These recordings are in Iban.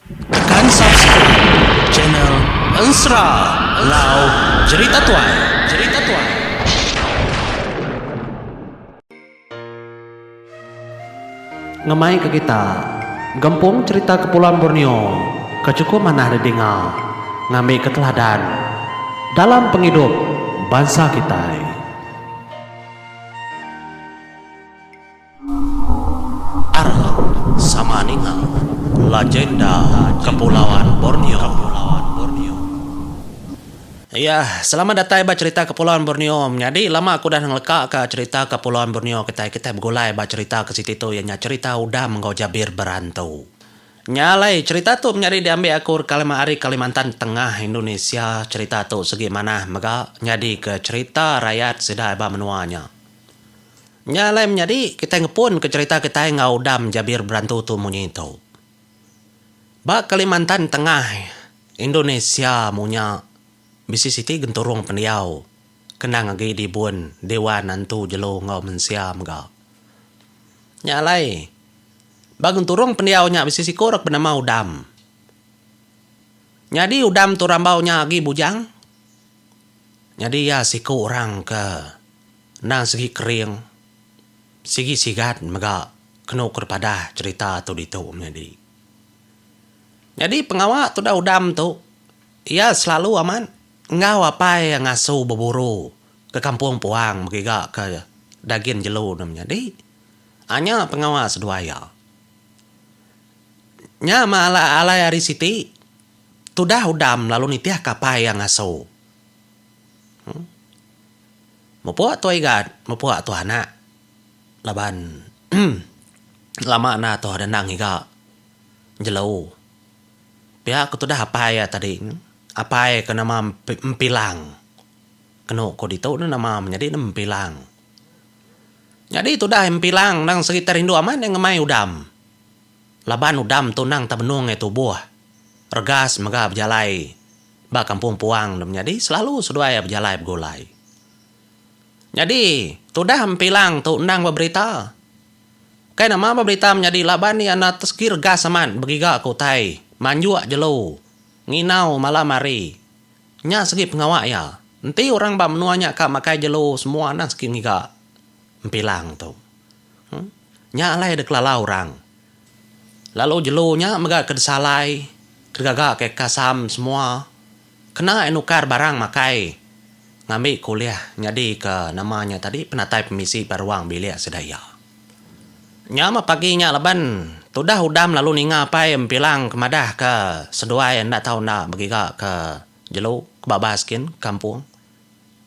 Tekan subscribe channel Ensra Lau Jerita Tuai. Ngemai ke kita, gempung cherita Kepulauan Borneo ke chukup manah didinga ngambika teladan dalam pengidup bansa kitai. Arhok sama ninga lagenda Kepulauan Borneo. Iya, selamat datai ba cherita Kepulauan Borneo. Menyadi lama aku udah ngeleka ka cherita Kepulauan Borneo kitai. Kitai begulai ba cherita ke siti tu iya nya cherita Udam enggau Jabir Berantu. Nya alai, cherita tu menyadi diambi aku ari Kalimantan Tengah, Indonesia. Cherita tu segi manah mega nyadika cherita rayat sida ba menua nya. Nya alai menyadi kitai ngepunka cherita kitai enggau udam jabir berantu tu munyi tu. Ba Kalimantan Tengah, Indonesia munya bisi siti genturung pendiau ke endang agi dibun Dewan Antu Jelu enggau Mensia mega. Nya alai, ba genturung pendiau nya bisi siku rak benama Udam. Nyadi udam tu rambau nya agi bujang. Nyadi iya siku orang ke endang sigi kering, sigi sigat mega kenu ku dipadah cherita tu ditu menyadi. Nyadi pengawa tudah udam tu iya selalu amat enggau apai iya ngasu beburu ke kampung puang begiga ke dagin jelu ne menyadi aaa nya pengawa seduai iya. Nya mah alai ari siti. Tudah udam lalu nitih kapai iya ngasu. Huh. Mepuk tu Igat, mepuk tu anak. Laban lama enda tu dendang ngiga jelu. Pia ku tudah apai iya tadi, apai ke nama Mpilang. Kenu ku ditu ne nama menyadi ne Mpilang. Nyadi tudah Mpilang nang serita rindu amat iya ngemai udam. Laban udam tu endang tebenung ngai tubuh, regas mega bejalai ba kampung puang tu menyadi selalu seduai bejalai begulai. Nyadi, tudah Mpilang tu endang ba berita. Kai nama ba berita menyadi laban iya enda segi regas amat begiga ke utai manjuk jelu nginau malam hari. Nya segi pengawa iya. Enti orang ba menua nya ka makai jelu semua endang segi ngiga Mpilang tu. Nya alai da kelala orang. Lalu jelu nya mega ke disalai digaga ke kasam semua kena iya nukar barang makai ngambi ke ulih nyadi ke nama nya tadi penatai pemisi ba ruang bilik sida iya. Nya meh pagi nya laban tudah udam lalu ninga apai Mpilang ke madah ke seduai enda tau enda begiga ke jelu ke babas gin kampung.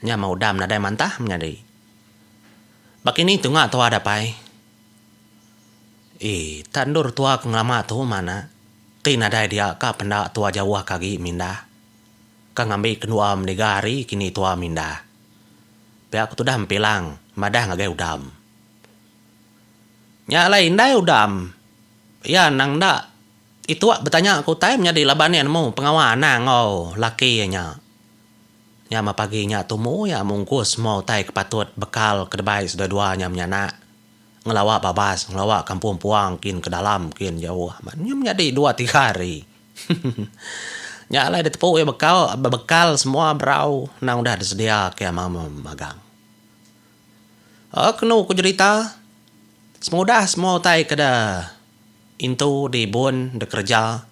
Nya meh udam nadai mantah menyadi. Baka ini tunga tua dapai. Ee tak endur tua ke ngelama tu mana ti nadai dia ka penda tua jauh ka agi mindah. Ka ngambi kendua meniga hari kini tua mindah. Pia ku tudah Mpilang madah ngagai Udam. Nya alai indai Udam iya nang enda itu betanya ke utai menyadi laban iya nemu pengawa anang enggau laki iya nya. Nya mah pagi nya tumu iya mungkus semua utai ke patut bekal ke debai sedua-dua nya menyanak. Ngelawa babas, ngelawa kampung puang kin ke dalam kin jauh amat. Nya menyadi dua tiga hari. Nya alai ditepu iya bekau bebekal semua berau nang udah disedia ke ama magang. Aaa kenu ku jerita pengudah semua utai ke de intu di bun de kereja.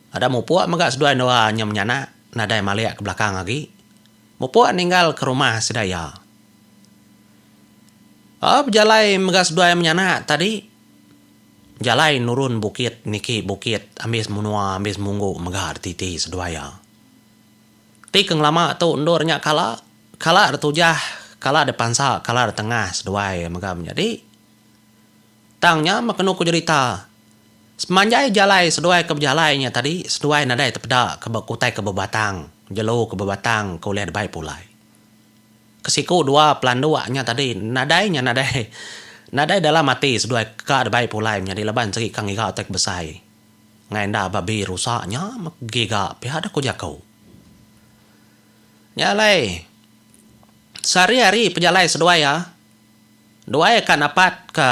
Ada mupuk mega seduai endur inya menyanak nadai malik ke belakang agi. Mupuk ninggal ke rumah sida iya. Au bejalai mega seduai menyanak tadi. Jalai nurun bukit niki bukit ambis menua ambis munggu mega dititi seduai iya. Ti ke ngelama tu endur nya kala, kala ditujah, kala dipansa, kala ditengah seduai mega menyadi. Tang nya meh kenu ku jerita. Semanjai jalai seduai ke bejalai nya tadi seduai nadai tepeda ke ba kutai ke bebatang, jelu ke bebatang ke ulih dibai pulai. Ke siku dua pelanduk nya tadi nadai nya nadai nadai dalam ati seduai ka dibai pulai menyadi laban segi ka ngiga utai ke besai ngai enda babi rusa nya meh giga pia da ku jaku. Nya alai sehari-hari pejalai seduai iya. Duai ka napat ka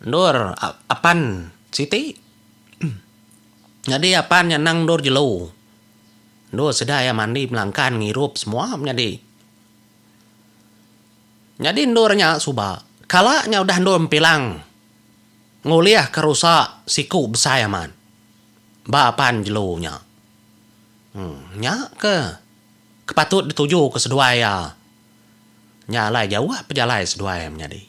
endur apan siti. Nyadi apan nya nang endur jelu. Endur sida iya mandi melangkan ngirup semua menyadi. Nyadi endur nya suba kala nya udah endur mpilang ngulih ka rusa siku besai amat ba apan jelu nya. Nya ke ke patut dituju ka seduai iya. Nya alai jauh pejalai seduai menyadi.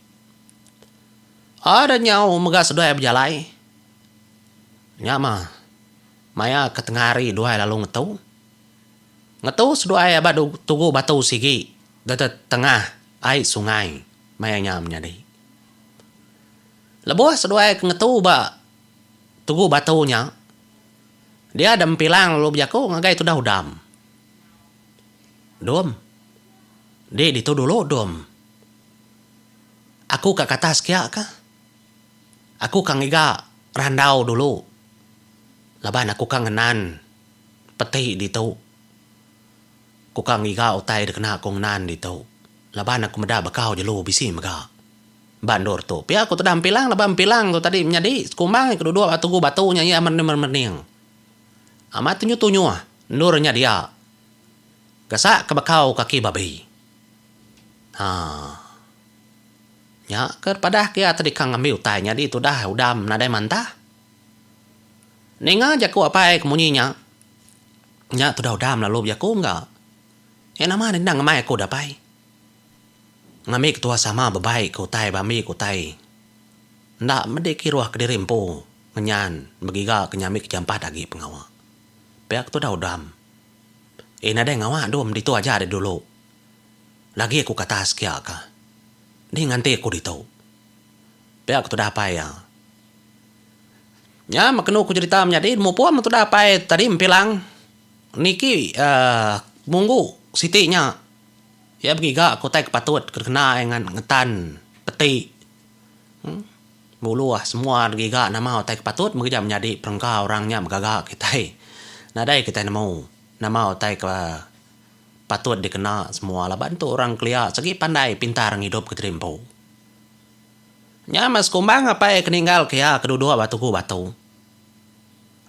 Ada nyau mega seduai bejalai. Nya mah maya ke tengah hari duai lalu ngetu. Ngetu seduai aba tugu batu sigi deka tengah ai sungai maya nya menyadi. Lebuh seduai ke ngetu ba tugu batu nya dia dempilang lalu bejaku ngagai tudah udam. Dom. Enti ditu dulu dom. Aku ka kata sekia ka. Aku ka ngiga randau dulu laban aku ka ngenan peti ditu. Aku ka ngiga utai dikena aku ngenan ditu laban aku meda bakau jelu bisi mega ba endur tu. Pia ku tudah Mpilang laban Mpilang tu tadi menyadi sekumbang ke duduk ba tugu batu nya iya merening-merening. Amat tunyuh-tunyuh endur nya dia. Gasak ke bekau kaki babi. Ha. Nya ke padah ke ati deka ngambi utai nyadi tudah udam nadai mantah. Ninga jaku apai ke munyi nya, nya tudah udam lalu bejaku engka. Iya nama enda endang ngemai aku dapai. Ngambi ketuah sama bebai ke utai bambi ke utai. Enda medi kiruh kediri empu. Ngenyan, begiga ke nyambi ke jampat agi pengawa. Pia ke tudah udam. Eh nadai ngawa dum ditu aja ari dulu. Lagi aku kata sekia ka. Dih nganti aku ditu. Pia ke tudah apai iya. Nya meh kenu ku jerita menyadi mupung meh tudah apai tadi Mpilang niki uhh munggu siti nya iya begiga ke utai ke patut ke dikena iya ngetan peti. Uhh. Nguluh semua agi ga nama utai ke patut meri kita nyadi perengka orang nya begaga kitai. Nadai kitai nemu nama utai ke patut dikena semua laban tu orang kelia segi pandai pintar ngidup ke tadi empu. Nya meh sekumbang apai ke ninggal ke iya ke duduk ba tugu batu.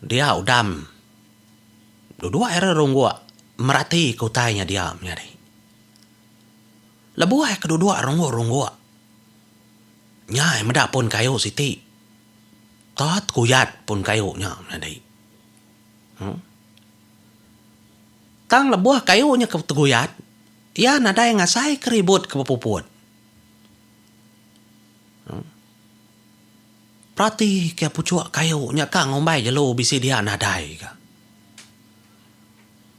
Dia udam duduk iya re rungok merati ke utai nya dia menyadi. Lebuh iya ke duduk rungok-rungok. Nyai meda pun kayu siti. Tat kuyat pun kayu nya nyadi. Uhh. Tang lebuh kayu nya ke teguyat, iya nadai ngasai ke ribut ke bepuput. Uhh. Peratika puchuk kayu nya ka ngumbai jelu bisi dia nadai ka.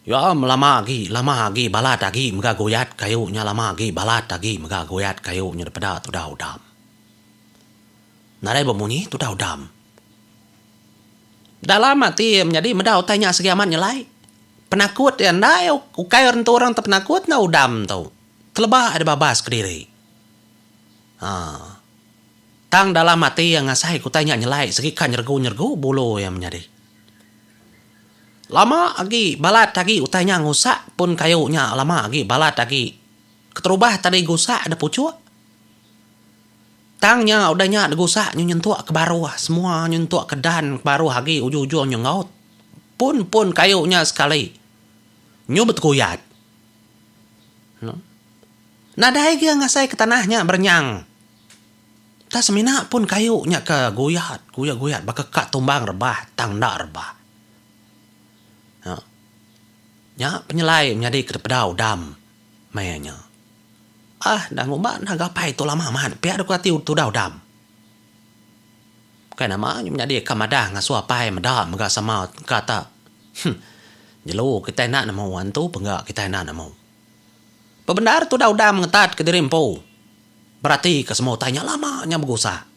Yom lama agi lama agi balat agi mega goyat kayu nya lama agi balat agi mega goyat kayu nya dipeda tudau dam. Nadai bemunyi tudau dam. Dalam ati iya menyadi meda utai nya sigi amat nyelai. Penakut iya enda iya ukai rentu orang ti penakut enda udam tu. Teleba iya dibabas kediri. Haa. Tang dalam ati iya ngasai ke utai nya nyelai sigi ka nyeregu-nyeregu bulu iya menyadi. Lama agi balat agi utai nya ngusak pun kayu nya lama agi balat agi keterubah tadi gusak da puchuk tang nya udah nya digusak nyu nyentuk ke baruh semua nyu nyentuk ke dan ke baruh agi ujung-ujung nyu enggau pun pun kayu nya sekali nyu beteguyat nadai agi ngasai ke tanah nya berenyang. Tang semina pun kayu nya ke guyat, guyat guyat baka ka tumbang rebah tang enda rebah. Nya nya penyelai menyadi ke dipedau dam meh nya. Ah enda ngumba enda gapai tu lama mat pia deka ati tudau dam. Bukai nama nya menyadi ka madah ngasu apai meda mega sama ka ta huh jelu kitai enda nemu antu pengga kitai enda nemu. Bebendar tudau dam ngetat ke diri empu. Beratika semua utai nya lama nya begusak.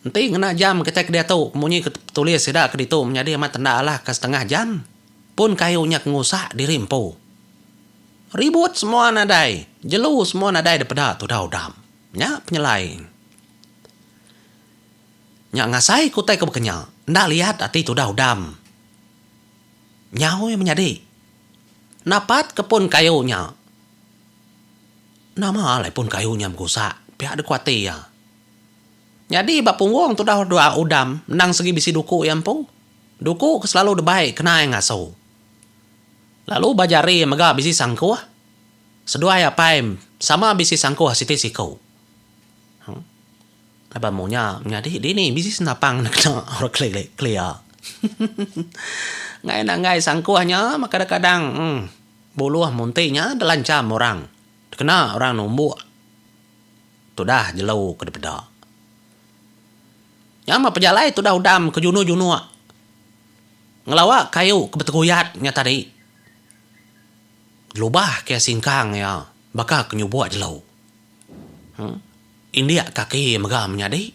Enti ngena jam kitai ke diatu munyi ke tulis sida ke ditu menyadi amat tenda alah ke setengah jam pun kayu nya ke ngusak diri empu. Ribut semua nadai, jelu semua nadai dipeda tudau dam. Nya penyelai nya ngasai ke utai ke bekenya enda liat ati tudau dam. Nyau iya menyadi. Napat ke pun kayu nya. Nama alai pun kayu nya begusak, pia deka ati iya. Nyadi ba punggung tudah dua udam endang segi bisi duku iya empu. Duku ke selalu debai kena iya ngasu. Lalu ba jari iya mega bisi sangkuh. Seduai apai sama bisi sangkuh siti siku. Hang. Laban mung nya menyadi dini bisi senapang enda kena orang kelilik kelia. Enggai nanggai sangkuh nya meh kadang-kadang. Hang. Buluh munti nya dilancham orang dikena orang numbuk tudah jelu ke dipeda. Nya meh pejalai tudah udam ke junuk-junuk ngelawa kayu ke beteguyat nya tadi ngelubah ke singkang iya baka ke nyubuk jelu. Indik kaki mega menyadi.